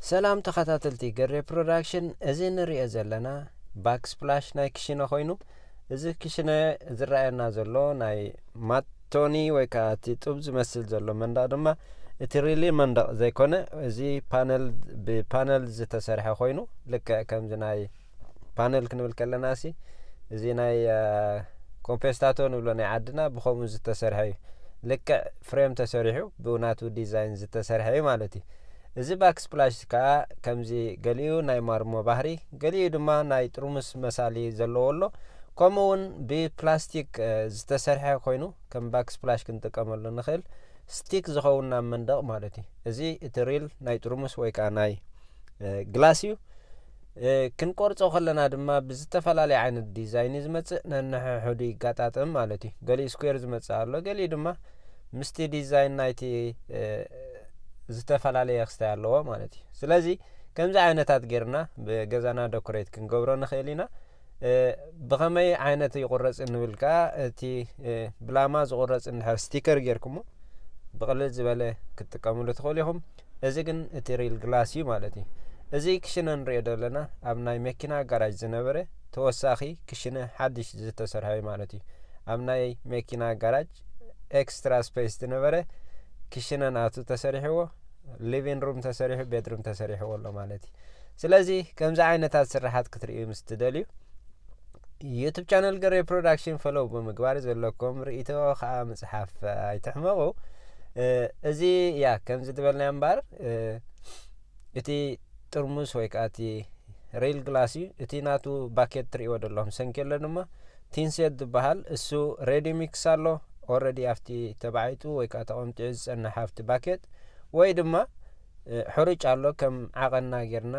ሰላም ተኸታተልቲ ገሬ ፕሮዳክሽን፣ እዚ ንሪኦ ዘለና ባክስፕላሽ ናይ ክሽነ ኮይኑ እዚ ክሽነ ዝረኣየና ዘሎ ናይ ማቶኒ ወይ ከዓ እቲ ጡብ ዝመስል ዘሎ መንደቕ ድማ እቲ ሪሊ መንደቕ ዘይኮነ እዚ ፓነል ብፓነል ዝተሰርሐ ኮይኑ ልክዕ ከምዚ ናይ ፓነል ክንብል ከለና ሲ እዚ ናይ ኮምፔስታቶ ንብሎ ናይ ዓድና ብከምኡ ዝተሰርሐ እዩ ልክዕ ፍሬም ተሰሪሑ ብናቱ ዲዛይን ዝተሰርሐ እዩ ማለት እዩ እዚ ባክ ስፕላሽ ከዓ ከምዚ ገሊኡ ናይ ማርሞ ባህሪ ገሊኡ ድማ ናይ ጥርሙስ መሳሊ ዘለዎ ኣሎ ከምኡ እውን ብፕላስቲክ ዝተሰርሐ ኮይኑ ከም ባክ ስፕላሽ ክንጥቀመሉ ንኽእል ስቲክ ዝኸውን ናብ መንደቕ ማለት እዩ እዚ እቲ ሪል ናይ ጥርሙስ ወይ ከዓ ናይ ግላስ እዩ ክንቆርጾ ከለና ድማ ብዝተፈላለየ ዓይነት ዲዛይን እዩ ዝመጽእ ነንሕሕዱ ይጋጣጥም ማለት እዩ ገሊኡ ስኩዌር ዝመጽእ ኣሎ ገሊኡ ድማ ምስቲ ዲዛይን ናይቲ ዝተፈላለየ ክስታይ ኣለዎ ማለት እዩ ስለዚ ከምዚ ዓይነታት ጌርና ብገዛና ደኮሬት ክንገብሮ ንኽእል ኢና ብኸመይ ዓይነት ይቑረፅ እንብል ከዓ እቲ ብላማ ዝቑረፅ እንድሕር ስቲከር ጌርኩሞ ብቕልል ዝበለ ክትጥቀምሉ ትኽእሉ ኢኹም እዚ ግን እቲ ሪል ግላስ እዩ ማለት እዩ እዚ ክሽነ ንሪኦ ዘለና ኣብ ናይ መኪና ጋራጅ ዝነበረ ተወሳኺ ክሽነ ሓድሽ ዝተሰርሐ እዩ ማለት እዩ ኣብ ናይ መኪና ጋራጅ ኤክስትራ ስፔስ ዝነበረ ክሽነ ናቱ ተሰሪሕዎ ሊቪን ሩም ተሰሪሑ ቤድሩም ተሰሪሕዎ ኣሎ ማለት እዩ ስለዚ ከምዚ ዓይነታት ስራሓት ክትርእዩ ምስ ትደልዩ ዩቱብ ቻነል ገሬ ፕሮዳክሽን ፈለው ብምግባር ዘለኩም ርእቶ ከዓ ምፅሓፍ ኣይትሕመቑ እዚ ያ ከምዚ ዝበልናዮ እምበር እቲ ጥርሙስ ወይ ከዓ እቲ ሬል ግላስ እዩ እቲ ናቱ ባኬት ትርእይዎ ዘለኹም ሰንኪ ኣሎ ድማ ቲንሴት ዝባሃል እሱ ሬዲ ሚክስ ኣሎ ኦረዲ ኣብቲ ተባዒጡ ወይ ከዓ ተቐምጢዑ ዝፀንሕ ኣብቲ ባኬት ወይ ድማ ሕሩጭ ኣሎ ከም ዓቐንና ጌርና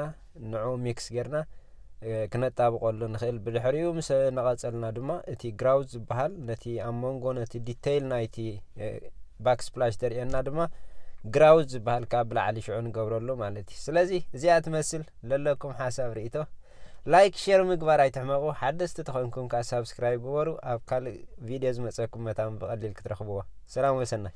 ንዑ ሚክስ ጌርና ክነጣብቐሉ ንኽእል ብድሕሪኡ ምስ ነቐፀልና ድማ እቲ ግራውዝ ዝበሃል ነቲ ኣብ መንጎ ነቲ ዲተይል ናይቲ ባክስፕላሽ ተርእየና ድማ ግራውዝ ዝበሃል ካብ ብላዕሊ ሽዑ ንገብረሉ ማለት እዩ ስለዚ እዚኣ ትመስል ለለኩም ሓሳብ ርእቶ ላይክ ሼር ምግባር ኣይትሕመቁ ሓደስቲ ተኮንኩም ከኣ ሳብስክራይብ ግበሩ ኣብ ካልእ ቪድዮ ዝመጸኩም መታን ብቀሊል ክትረክብዋ ሰላም ወሰናይ።